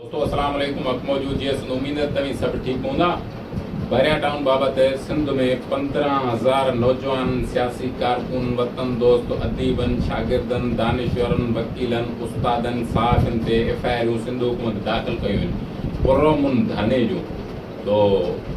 دوستو اسلام عليڪم حق موجود جي اسند اميد ته توهين سڀ ٺيڪ هوندا بحريا ٽائون بابت سنڌ ۾ پندرهن هزار نوجوانن سياسي ڪارڪن وطن دوست اديبن شاگردن دانشورن وڪيلن استادن صحافين تي ايف آء آرون سنڌ حڪومت داخل ڪيون آهن پرامن ڌرڻي جون سو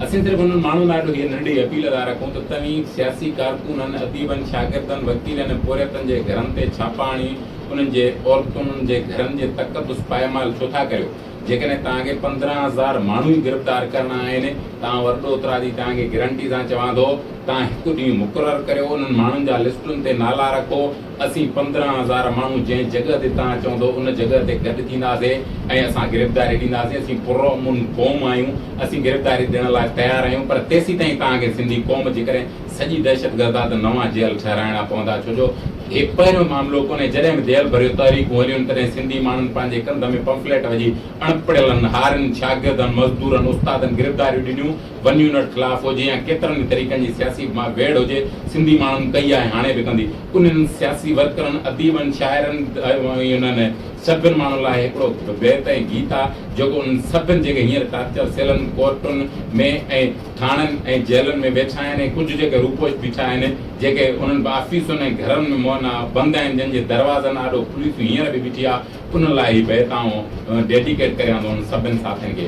اسين صرف انهن ماڻهن لاء به هيء ننڍي اپيل ٿا رکون ته توهين سياسي ڪارڪنن، اديبن، شاگردن، وڪيلن ۽ پورهيتن جي گهرن تي ڇاپا هڻي انهن جي عورتن، انهن جي گهرن جي تقدس پائمال ڇو ٿا ڪريو؟ جيڪڏهن توهان کي پندرهن هزار ماڻهو ئي گرفتار ڪرڻا آهن ته آئون ورڊوترا جي توهان کي گرنٽي سان چوان ٿو، توهان هڪ ڏينهن مقرر ڪريو، انهن ماڻهن جا لسٽن تي نالا رکو، اسين پندرهن هزار ماڻهو جنهن جڳهه تي توهان چوندو ان جڳهه تي گڏ ٿينداسين ۽ اسان گرفتاري ڏينداسين، اسين پرامن قوم آهيون، اسين گرفتاري ڏيڻ لاء تيار آهيون پر تيسيتائين توهان کي سنڌي قوم جي ڪري سڄي دهشتگرد آ ته نوان جيل ٺهرائڻا پوندا ڇو جو هي پهريون معاملو ڪونهي جڏهن به جيل ڀريون تحريڪون هليون تڏهن سنڌي ماڻهن پنهنجي ڪنڌ ۾ پمفليٽ وجهي اڻپڙهيلن، هارين، شاگردن، مزدورن، استادن گرفتاريون ڏنيون، ون يونٽ خلاف هجي يا ڪيترن ئي طريقن جي سياسي ويڙهه هجي، سنڌي ماڻهن ڪئي آهي هاڻي به ڪندي. انهن سياسي ورڪرن، اديبن، شاعرن ۽ انهن سڀن ماڻهن لاء هڪڙو بيت ۽ گيت آ جيڪو انهن سڀن جيڪي هينئر ٽارچر سيلن، ڪورٽن ۾ ۽ ٿاڻن ۽ جيلن ۾ ويٺا آهن ۽ ڪجهه جيڪي روپوش بيٺا آهن جيڪي انهن به آفيسن ۽ گهرن ۾ مئن آ بند آهن جن جي دروازن آڏو پوليس هينئر به بيٺي آ انهن لاء هي بيت آئون ڊيڊيڪيٽ ڪريان ٿو انهن سڀن ساٿين کي.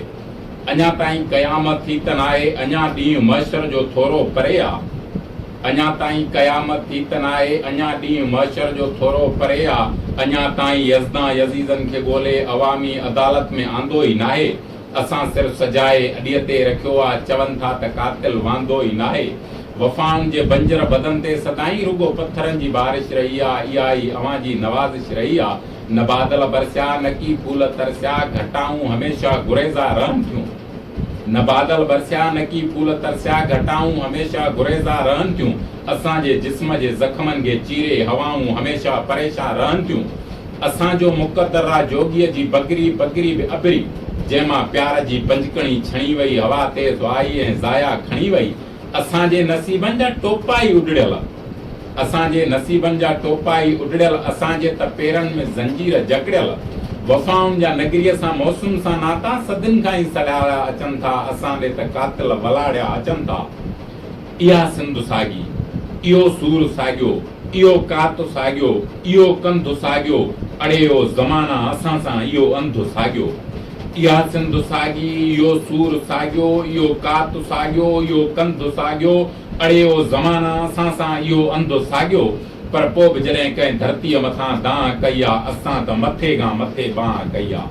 اڃا تائين قيامت ٿي ته ناهي، اڃا ڏينهن محشر جو ٿورو پري آ. اڃا تائين قيامت ٿي ته ناهي، اڃا ڏينهن محشر جو ٿورو پري آ. اڃا تائين يزدان يزيدن کي ڳولي عوامي عدالت ۾ آندو ئي ناهي. اسان سر سجائي اڏيء تي رکيو آ، چون ٿا ته قاتل واندو ئي ناهي. وفائن جي بنجر بدن تي سدائين رڳو پٿرن جي بارش رهي آ، اها ئي اوهان جي نوازش رهي آ. نه بادل برسيا، نه ڪي ڦول ترسيا، گهٽائون هميشه گريزا رهن ٿيون. نه بادل برسيا، نه ڪي ڦول ترسيا، گهٽائون هميشه گريزا رهن ٿيون. اسان جي جسم جي زخمن کي چيري هوائون هميشه پريشان رهن ٿيون. اسان جو مقدر را جوڳيء جي بگري بگري به اڀري، جنهن مان پيار جي بنجڪڻي ڇڻي وئي، هوا تيز آئي ۽ زايا کڻي وئي، اسان جي نصيبن جا ٽوپا ئي اڏڙيل اسان جي نصيبن جا ٽوپا ئي اڏڙيل اسان جي ته پيرن ۾ زنجير جڪڙيل وفائن جا نگريء سان موسم سان ناتا صدين کان ئي سڏايا اچن ٿا اسان ڏي ته قاتل ولاڙيا اچن ٿا اها سنڌ ساڳي اهو سور ساڳيو اهو ڪات ساڳيو اهو ڪنڌ ساڳيو اڙي او زمانا اسان سان اهو انڌ ساڳيو اها سنڌ ساڳي، اهو سور ساڳيو، اهو ڪات ساڳيو، اهو ڪنڌ ساڳيو، اڙي او زمانا، اسان سان اهو انڌ ساڳيو، پر پوء به جڏهن ڪنهن ڌرتيء مٿان دانهن ڪئي آ، اسان ته مٿي کان مٿي بانهن ڪئي آ.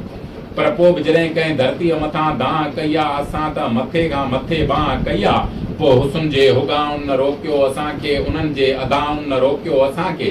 پر پوء به جڏهن ڪنهن ڌرتيء مٿان دانهن ڪئي آ، اسان ته مٿي کان مٿي بانهن ڪئي آ، پوء حسن جي هڳائن نه روڪيو اسان کي، انهن جي ادائن نه روڪيو اسان کي،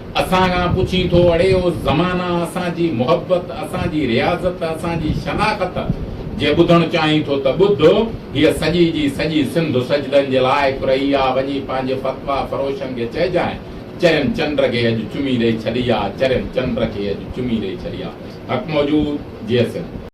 اسان کان پڇين ٿو اڙي او زمانه اسان جي محبت اسان جي رياضت اسان جي شناخت جي ٻڌڻ چاهين ٿو ته ٻڌ هيء سڄي جي سڄي سنڌ سجدن جي لائق رهي آ وڃي پنهنجي فتويٰ فروشن کي چئجانء چرين چنڊ کي اڄ چمي ڏئي ڇڏي آ چرين چنڊ کي اڄ چمي ڏئي ڇڏي آ حق موجود جيئي سنڌ.